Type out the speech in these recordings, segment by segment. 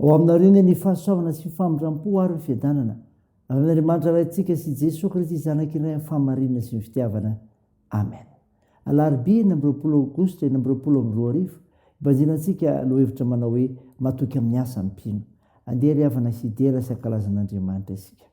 Ao aminareo anie ny fahasoavana sy famindrampo ary ny fiadanana, avy amin'Andriamanitra Raintsika sy Jesoa Kristy Zanaka iray amin'ny fahamarinana sy ny fitiavana. Amen. Alarobia enina amby roapolo Aogositra enina amby roapolo amby roa arivo, ibanjina antsika lohahevitra manao hoe Matoky amin'ny asa ny mpino. Andeha ry havana hidera sy hankalaza an'Andriamanitra isika.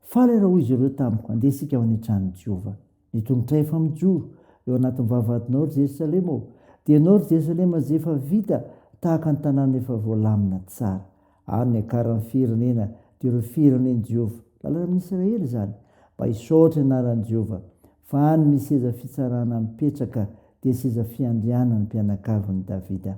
Faly aho raha hoy izy ireo tamiko, Andeha isika ho any an-tranon'i Jehovah. Ny tongotra efa mijoro eo anatin'ny vavahadinao, ry Jerosalema ô, dia ianao, ry Jerosalema, izay efa vita tahaka ny tanàna efa voalamina tsara. Ary niakaran'ny firenena, dia ireo firenen'i Jehovah, lalana amin'i Israely izany, mba hisaotra ny anaran'i Jehovah, fa any misy seza fitsarana mipetraka, dia seza fiandrianan'ny mpianakavin'i Davida.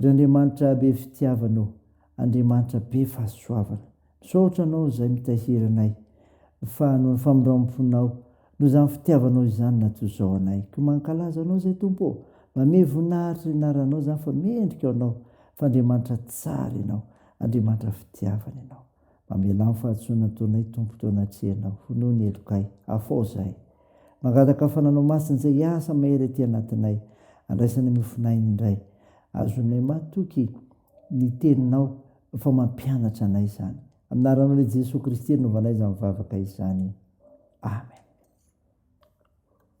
Ry Andriamanitra be fitiavana ô, Andriamanitra be fahasoavana, misaotra Anao izay mitahiry anay, fa noho ny famindram-ponao, noho izany fitiavanao izany na toy izao anay. Koa mankalaza Anao izay Tompo ô, mba miha voninahitra ny anaranao izany fa mendrika ho Anao, fa Andriamanitra tsara Ianao, Andriamanitra fitiavana Ianao. Mamelà ny fahadisoana ataonay Tompo teo anatrehanao, honoho ny helokay. Afao izahay. Mangataka fananao masina izay hiasa mahery ety anatinay, andraisana miofon'aina indray. Azonay matoky ny teninao fa mampianatra anay izany. Amin'ny anaranao lehiJesoa Kristy rinovanay izany vavaka izany. Amen.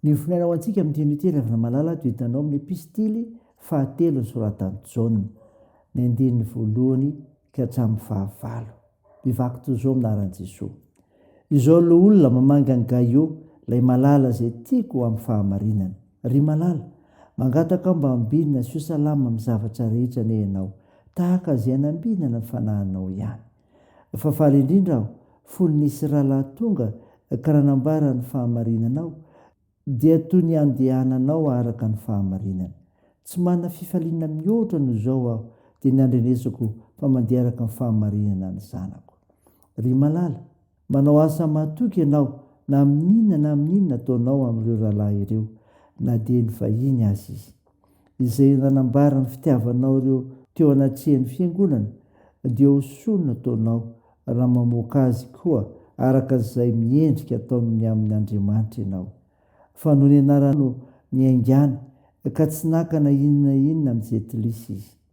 Ny voninahitra ho antsika amin'ny teny hoe teny avy Ramalala dia hitanao amin'ny epistily fahatelo nosoratan'i Jaona, ny andininy voalohany ka hatramin'ny fahavalo. Mivaky toy izao amin'ny anaran'i Jesoa. Izao loholona mamanga an'i Gaio, ilay malala izay tiako amin'ny fahamarinana. Ry malala, mangataka aho mba ambinina sy ho salama amin'ny zavatra rehetra anie ianao, tahaka izay nambinana ny fanahinao ihany. Fa faly indrindra aho fony nisy rahalahy tonga ka nanambara ny fahamarinanao, dia toy ny andehananao araka ny fahamarinana. Tsy manana fifaliana mihoatra noho izao aho, dia ny andrenesako fa mandeha araka ny fahamarinana ny zanako. Ry malala, Manao asa matoky ianao na amin'inona na amin'inona ataonao amin'ireo rahalahy ireo, na dia nivahiny aza izy. Izay nanambara ny fitiavanao ireo teo anatrehan'ny Fiangonana, dia ho soa no ataonao raha mamoaka azy koa araka izay miendrika ataony ny amin' Andriamanitra ianao. Fa noho ny anarany no niaingàny, ka tsy naka na inona na inona amin'ny jentilisy izy.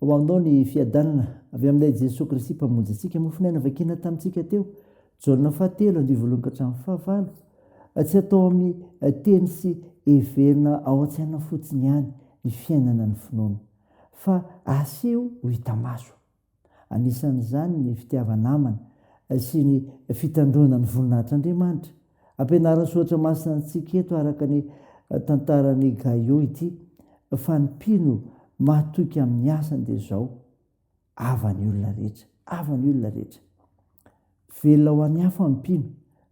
Ho anao ny fiadanana avy amin'ilay Jesoa Kristy Mpamonjy antsika. Mofon'aina novakina tamintsika teo, Jaona fahatelo, andivo voalohany ka hatramin'ny fahavalo. Tsy atao amin'ny teny sy heverina ao an-tsaina fotsiny ihany ny fiainana ny finoana, fa aseho ho hita maso. Anisan'izany ny fitiava-namana sy ny fitandroana ny voninahitr'Andriamanitra. Ampianarin'ny Soratra Masina antsika eto araka ny tantaran'i Gaio ity fa ny mpino mahatoky amin'ny asany dia izao, Ava ny olona rehetra, ava ny olona rehetra. Velona ho an'ny hafa ny mpino,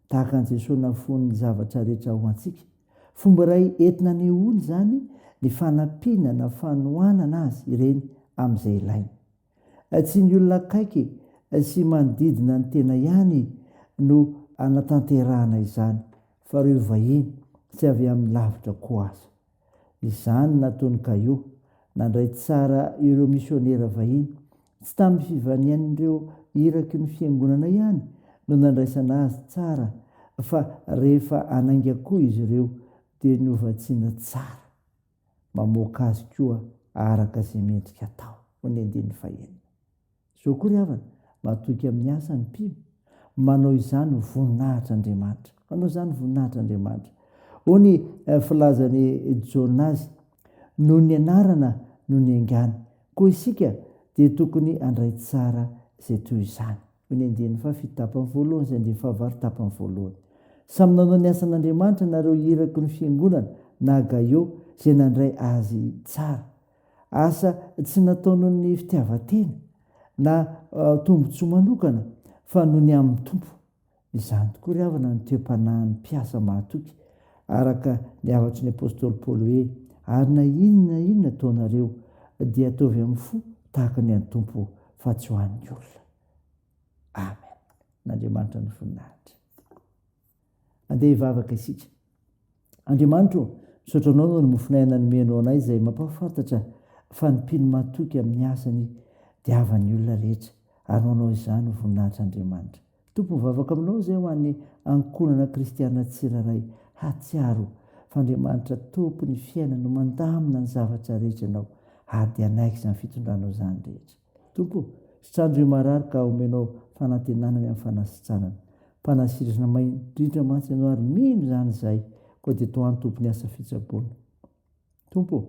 tahaka an'i Jesoa nahafoy ny zavatra rehetra ho antsika. Fomba iray entina anehoana izany ny fanampiana na fanohanana azy ireny amin'izay ilainy. Tsy ny olona akaiky sy manodidina ny tena ihany no anatanterahana izany fa ireo vahiny tsy avy amin'ny lavitra koa aza. Izany nataon'i Caio, nandray tsara ireo misionera vahiny. Tsy tamin'ny fivanian'ireo iraky ny fiangonana ihany no nandraisana azy tsara fa rehefa hanainga koa izy ireo dia novatsiana tsara. mamoaka azy koa araka izay mendrika atao, hoy ny andininy fahenina. Izao koa ry havana, matoky amin'ny asa ny mpino, manao izany voninahitr'Andriamanitra. Manao izany voninahitr'Andriamanitra. Hoy ny filazan'i Jaona azy, Noho ny anarana no niaingany, koa isika dia tokony handray tsara izay toy izany. Ny andiany fahafito tapany voalohany sy andiany fahavalo tapany voalohany. Samy nanao ny asan'Andriamanitra nareo iraky ny fiangonana na Gaio izay nandray azy tsara. Asa tsy natao noho ny fitiavan-tena na tombon-tsoa manokana fa noho ny amin'ny Tompo. Izany tokoa ry havana no toe-panahin'ny mpiasa mahatoky araka ny hafatry ny apostoly Paoly hoe, Ary na inona na inona ataonareo, dia ataovy amin'ny fo tahaka ny an'ny Tompo. fa tsy ho an'ny olona. Amen. N'Andriamanitra ny voninahitra. Andeha hivavaka isika. Andriamanitro, misaotra anao noho ny mofonay nanomenao anay izay mampahafantatra fa ny mpino matoky amin'ny asany dia havan'ny olona rehetra. Ary ho anao izany ho voninahitr'Andriamanitra. Tompo mivavaka aminao izay ho an'ny ankohonana kristiana tsirairay hahatsiaro fa Andriamanitra Tompon'ny fiainany no mandamina ny zavatra rehetra ianao ady hanaiky izany fitondranao izany rehetra. Tompo, sitranio ireo marary ka omenao fanantenana ny amin'ny fanasitranana. Mpanasirana maindrindra mantsy ianao ary mino izany izahay, koa dia tohano Tompo ny asa fitsaboana. Tompo ô,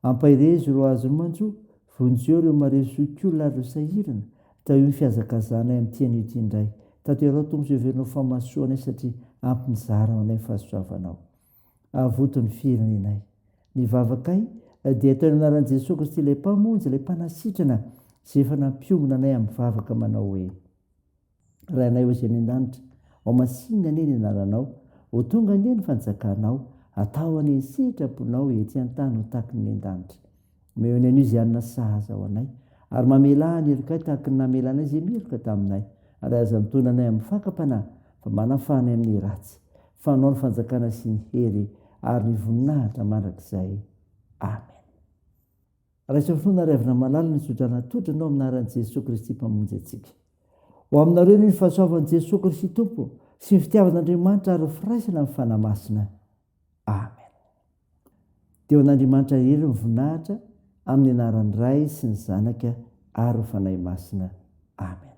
ampaherezo ireo azony mantsy o, vonjeo ireo marery zokiolona ary ireo sahirana, tahio ny fihazakazahanay amin'ity anio ity indray. Tanterao Tompo izay heverinao fahamasoa anay satria ampy nizara ho anay ny fahasoavanao. Avoto ny firenenay. Ny vavakay dia atao eny anaran'i Jesoa Kristy ilay Mpamonjy, ilay Mpanasitrana izay efa nampiombona anay amin'ny vavaka manao hoe. Rainay ao izay any an-danitra. Ao masinina anie ny anaranao. Ho tonga anie ny fanjakanao. Atao anie ny sitraponao ety an-tany ho tahaky ny eny an-danitra. Omeo ny anio izay hanina sahaza ho anay. Ary mamelà ny helokay tahaky ny namelanay izay miheloka taminay. Ary aza mitondra anay amin'ny fakam-panahy, fa manafaha anay amin'ny ratsy. Fa anao ny fanjakana sy ny hery ary ny voninahitra mandrakizay. Amen. Raiso fo naraivina malala ny sodrana totra anao amin'ny anaran'i Jesoa Kristy Mpamonjy antsika. Ho aminareo anie ny fahasoavan'i Jesoa Kristy Tompo sy ny fitiavan'Andriamanitra ary ny firaisana amin'ny Fanahy Masina. Amen. Dia ho an'Andriamanitra irery ny voninahitra amin'ny anaran'ny Ray sy ny Zanaka ary ny Fanahy Masina. Amen.